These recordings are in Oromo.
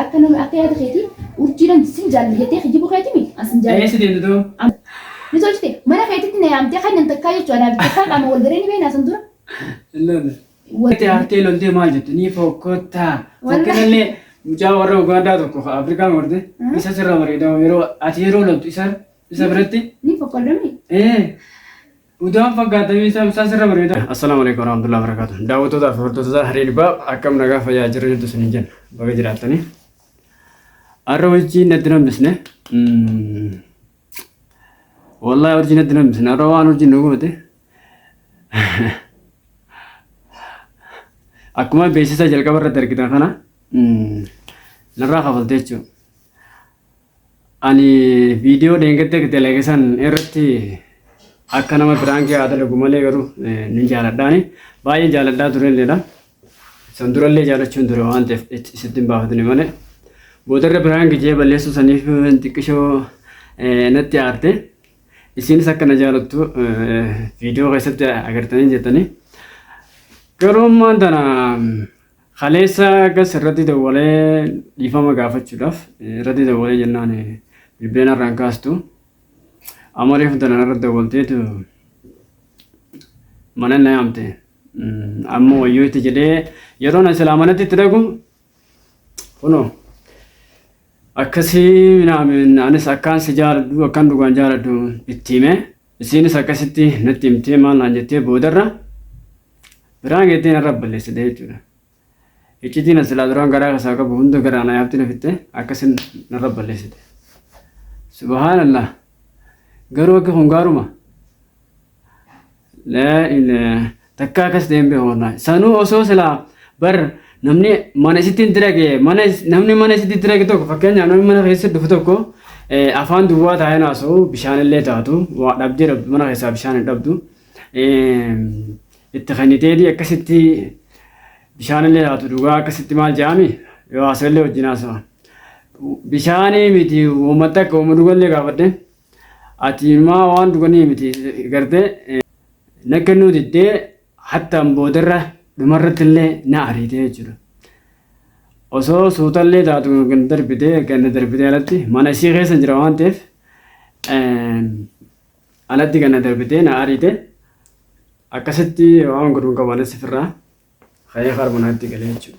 Akka nama akka yaada keeti urjiidhan sin jaalanna jettee kijjibu keeti mi an sin jaalanna. Eessa deemta doo? Am. Ni tolchite mana keetitti na yaamtee kan nan takkaa jechuu anaa fi takkaa qaama wal garee ni beeknaa san dura. Hin lolle. Wal. Itti aartee loltee maal jette ni fokkottaa. Wallaahi. Fokkirallee mucaa warra Ugaandaa tokko ka Afrikaan horte Mm. isa sirra bareeda yeroo ati yeroo loltu isa isa biratti Ni fokkoldomii. ee Udaan fakkaatamee isaa ibsaa sirra bareeda. Assalaamu alaikum warahmatullahi wabarakatuh. Daawwattootaa fi hordoftoota Haree Dhibbaa akkam nagaa fayyaa jirra jirtu isiniin jenna. Baga jiraattanii. Har'a wajjin natti hin hambisne. Wallahi wajjin natti hin hambisne. Har'a waan wajjin nu gubate. Akkuma beeksisa jalqaba irratti argitan kana narraa kafaltee jechuudha. Ani viidiyoo dheengadda dalage san irratti akka nama biraankii haa dalagu malee garuu nin jaaladhaani. Baay'ee jaaladhaa turelleedha. San durallee jaalachuun ture waan ta'eef sitti hin baafatne malee. Boodarra biraanki jee balleessuu saniif xiqqishoo natti aarte. Isiinis akka na jaalattu viidiyoo keessatti agartanii jettanii. Garuu ammaan tana Kaleessa gas irratti dawwalee dhiifama gaafachuudhaaf irratti dawwalee jennaan bilbila narraa hin kaastu. Amma reefu dalan irratti dawwalteetu mana na yaamte. Amma wayyoo itti jedhee yeroo na silaa manatti itti dhaqu kunoo akkasii minaamin anis akkaan si jaaladhu akkaan dhugaan jaaladhu itti himee Isiinis akkasitti natti himtee maal naan jettee boodarra biraa geettee narra balleessite jechuudha. Iccitiin as silaa duraan garaa keessaa qabu hunda garaa na yaabtee na fixxee akkasin narra balleessite. Subhaanallah garuu akka kun gaaruma laa ilaaha Takka akkas ta'een beeku wallahi. Sanuu osoo silaa bar namni mana isitti hin dirage mana namni mana isitti dirage tokko fakkeenyaaf namni mana keessa dhufu tokko afaan duwwaa taa'ee naasa'u bishaan illee taatu waa dhabdee dhabdu mana keessaa bishaan hin dhabdu. Itti kenniteetii akkasitti bishaan illee taatu dhugaa akkasitti maal jedhami yoo haasa'e illee wajjin haasa'a. Bishaanii miti uummata akka uummata dhugallee gaafadhe. Ati maa waan dhuganii miti garte na kennuu diddee hattaan boodarra dhumarratti illee na ariitee jechuudha. Osoo suutallee taatu kan darbitee kan na darbitee alatti mana ishee keessa jira waan ta'eef alatti kan na darbitee na ariite akkasitti waan godhuun qabanis ofirraa ka'ee harma naatti galee jechuudha.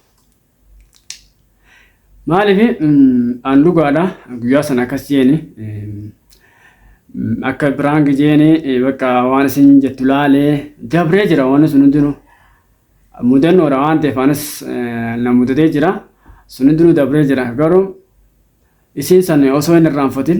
Maaliif an dhugaadha guyyaa sana akkas jeeni akka biraan jeeni bakka waan isin jettu laalee dabree jira waan sun hundinuu mudannoodha waan ta'eef anis na mudatee jira sun hundinuu dabree jira garuu isiin san osoo hin irraanfatin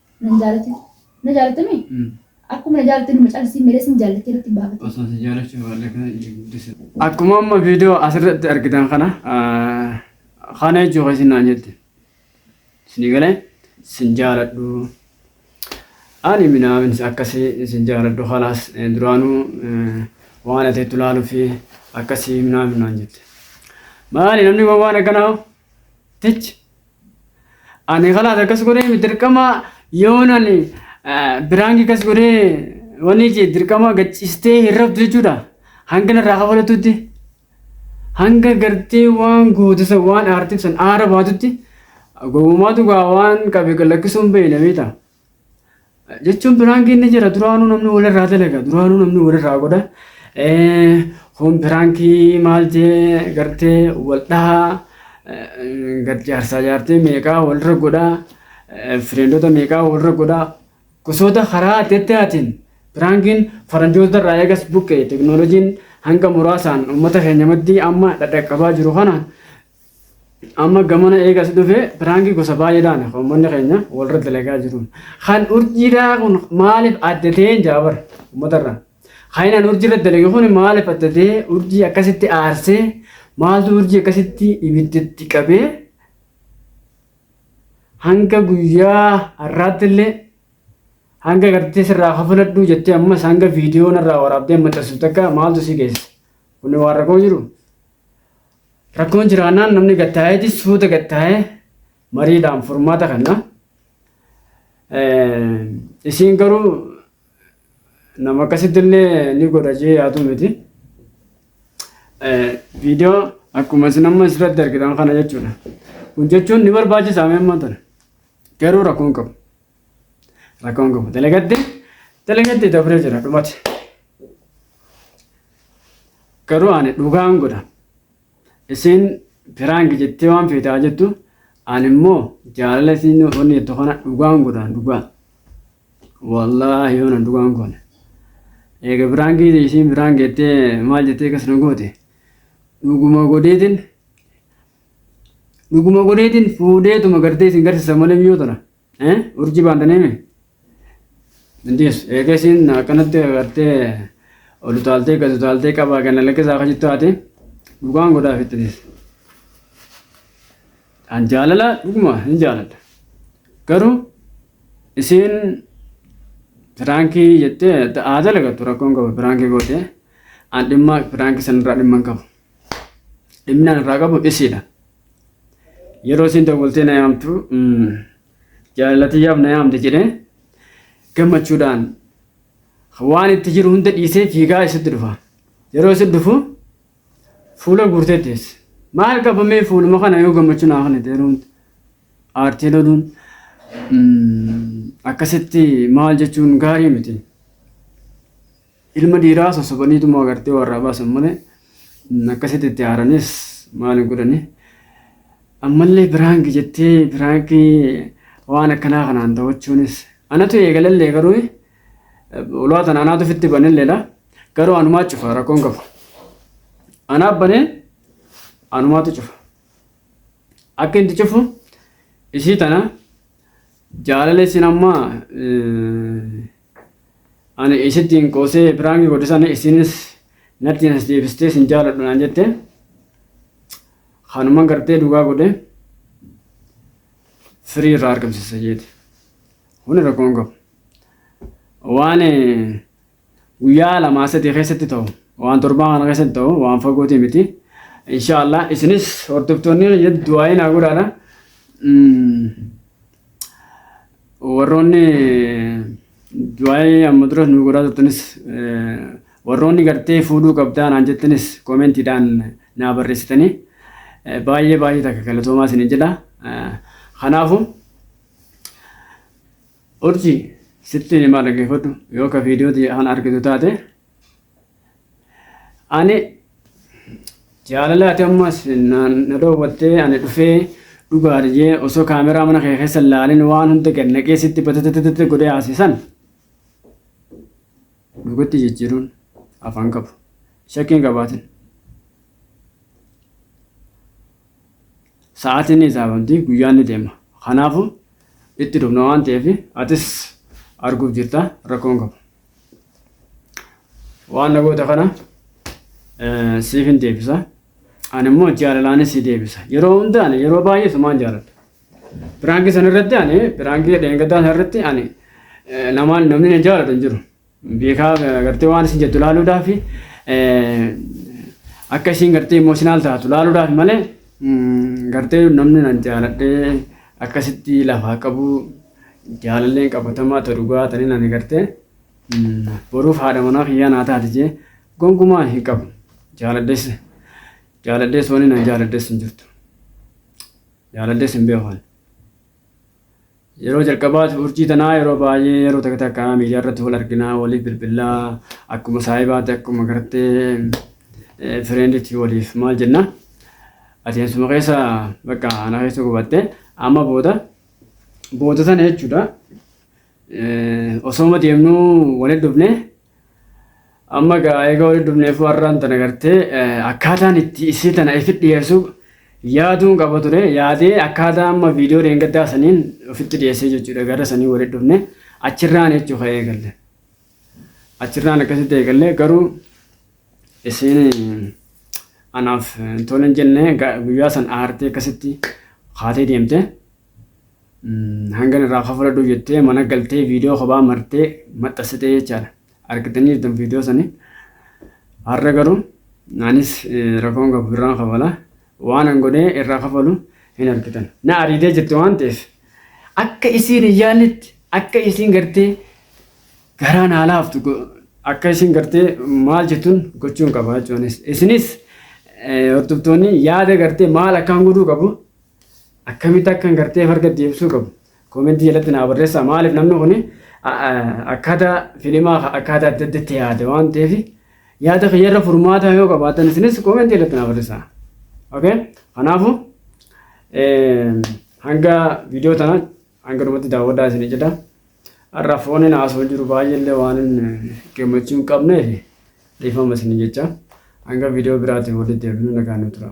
Nan jaalate. Na jaalatte mi? Akkuma na jaalatte numa caalsii meelee sin jaallattee natti hin baafate. Osoo si jaalachuu baadhee kana ija guddisa. Akkuma amma viidiyoo asirratti argitan kana kana jechuu keessi naan jette. Isin galee sin jaaladhu. Ani minaamin akkasii isin jaaladhu kalaas duraanuu waan ati itti ilaaluu fi akkasii minaamin naan jette. Maali namni waan akkanaa tich Ani kalaas akkas godhee mi dirqama yoon ani biraangi akkas godhee wanni jee dirqama gaccistee hin rabdu jechuudha. Hanga narraa kafalatutti hanga gartee waan gootu san waan aartiif san aara baatutti gowwumaatu gaa waan qabe lakkisuun beeyna beektaa. jechuun piraankiin ni jira duraanuu namni walirraa dalaga duraanuu namni walirraa godha kun piraankii maal jee gartee wal dhahaa gad jaarsaa jaartee meeqaa walirra godha fireendota meeqaa walirra godha gosoota karaa adda addaatiin piraankiin faranjoota irraa eegas buqqe teknooloojiin hanga muraasaan uummata keenya maddii amma dhadhaqqabaa jiru kana Amma gamana eegas dhufe piraangii gosa baay'eedhaan uummanni keenya walirra dalagaa jiru. Kan urjiidhaa kun maaliif adda ta'ee hin jaabar uummatarra. Kan inni urjiirra dalage kun maaliif adda ta'ee urjii akkasitti aarsee maaltu urjii akkasitti ibiddatti qabee hanga guyyaa har'aatti illee hanga gartee sirraa kafaladhu jettee ammas hanga viidiyoo narraa waraabdee maxxansu takka maaltu si geesse. Kun waan rakkoo jiru. Rakkoon jiraannaan namni gad taa'eeti suuta gad taa'ee mariidhaan furmaata kanna. Isiin garuu nama akkasitti illee ni godha jee yaaduu miti. Viidiyoo akkuma isin amma asirratti argitan kana jechuudha. Kun jechuun ni barbaachisa amma tana. Garuu rakkoo hin qabu. Rakkoo hin qabu. Dalagatti dalagatti dabree jira dhumate. Garuu ani dhugaan godha. Isiin piraanki jettee waan feete haa jettu ani immoo jaalala isiin wanni jettu kana dhugaan godha dhugaa. Wallaahi yoona dhugaan goone. Eega piraankii isiin piraanki jettee maal jettee akkas na goote. Dhuguma godheetiin dhuguma godheetiin fuudheetuma gartee isin garsiisa malee mi'oo tana. Eh, urji baantanii mi? Intis, eega isiin akkanatti agartee ol utaaltee gad utaaltee qabaa kana lakkisaa akka jettu haati dhugaan godhaa fittinis. An jaalala dhuguma hin jaaladha. Garuu isiin firaankii jettee haa dalagatu rakkoon qabu firaankii gootee an dhimma firaankii sanirraa dhimma hin qabu. dhimminaan irraa qabu isiidha. Yeroo isiin dawwaltee na yaamtu jaalallatiyyaaf na yaamte jedhee gammachuudhaan waan itti jiru hunda dhiisee fiigaa isitti dhufa. Yeroo isitti dhufu fuula guurtee teesse. Maal qabamee fuuluma kana yoo gammachuu naa kana ta'e hundi aartii loluun akkasitti maal jechuun gaarii miti. Ilma dhiiraa sossobaniituma agartee warraa baasan malee akkasitti itti aaranis maal hin godhani. Ammallee piraanki jettee piraankii waan akkanaa kanaan daawwachuunis anatu eegalallee garuu ulaa tana anaatu ofitti banelleedha. Garuu anumaa cufa rakkoon qabu. Anaa banee anumaatu cufa. Akka inni cufu isii tana jaalala isin amma Ani isittiin qoosee piraanki godhe sana isinis natti nas deebistee sin jaaladhu naan jette. Kanuman gartee dhugaa godhe firii irraa argamsiisa jeeti. Kuni rakkoon qabu. Waan eh, guyyaa lamaa sadii keessatti ta'u waan torbaa kana keessatti ta'u waan fagootii miti. Inshaallah isinis hordoftoonni du'aayi naa godhaadha. Mm, Warroonni du'aayee amma dura nu godhaa turtanis warroonni gartee fuudhuu qabdaa naan jettanis koomentiidhaan naa barreessitanii baay'ee baay'ee takka galatoomaa isin jedha. Kanaafu urji sitti himaa dhaggeeffadhu yoo ka viidiyoo kana argitu taate Ani jaalala ati ammas naan na dhoowwattee ani dhufee dhugaa dhiyee osoo kaameraa mana kee keessa hin laalin waan hunda gad naqee sitti batatatatate godhee haasisan dhugatti jijjiiruun afaan qabu shakkiin qabaatin sa'aatiin ni isaafamti guyyaan ni deema kanaafu itti dhufna waan ta'eef atis arguuf jirta rakkoon qabu. Waan na goota kana eh, siif hin deebisa. Ani immoo jaalalaan si deebisa. Yeroo hundaan yeroo baay'ee sumaan jaaladha. Biraankii sana irratti ani biraankii dheengaddaa sana irratti ani eh, namaan namni na jaalatu hin jiru. Beekaa eh, gartee waan isin jettu ilaaluudhaaf eh, akka isin gartee imooshinaal taatu ilaaluudhaaf malee mm, gartee namni na jaaladhee akkasitti lafaa qabu Jaalalleen qabatamaa ta dhugaa taniin ani gartee boruuf haadha manaa kiyyaa naa taati jee gonkumaa hin qabu. Jaaladhes jaaladhes wani na jaaladhes hin jirtu. Jaaladhes hin beekan. Yeroo jalqabaati urjii tanaa yeroo baay'ee yeroo takka takka miidiyaa irratti wal arginaa waliif bilbilaa akkuma saahibaatti akkuma gartee fireenditti waliif maal jenna. Adeemsuma keessa bakka ana keessa gubatte amma booda Booda sana jechuudha. Osooma deemnuu walitti dhufne amma egaa eega walitti dhufneef warraan tana gartee akkaataan itti isii tana ifi dhiyeessu yaaduun qaba ture yaadee akkaataa amma viidiyoo deengaddaa saniin ofitti dhiyeessee jechuudha gara sanii walitti dhufne achirraan jechuu ka'ee galle. Achirraan akkasitti eegallee garuu isiin anaaf hin tole hin jenne ga- guyyaa san aartee akkasitti kaatee deemte. Mm, Hangan irraa kafaladhu jettee mana galtee viidiyoo kophaa martee maxxansitee jechaadha. Argitanii jirtan viidiyoo sanii. Har'a garuu anis eh, rakkoon qabu irraan kafala. Waan an godhee irraa kafalu hin argitan. Na ariitee jirti waan ta'eef akka isiin hin yaannetti akka isiin gartee garaan haa laaftu go- akka isin gartee maal jettun gochuun qaba jechuunis isinis eh, hordoftoonni yaada gartee maal akkaan godhuu qabu akkamitti akkan gartee farga deebisuu qabu koomentii jalatti naa barreessaa maaliif namni kun akkaataa filimaa akkaataa adda addatti yaada waan ta'eef yaada kiyyarra furmaataa yoo qabaatan isinis koomentii jalatti naa barreessaa okay kanaafuu eh, hanga viidiyoo tana Hanga dhumatti daawwadhaa isin jedha. Har'a fooniin haasoo jiru baay'eellee waan gammachuu hin qabneef dhiifama isin jecha hanga viidiyoo biraatiin walitti deebinu nagaan nu tura.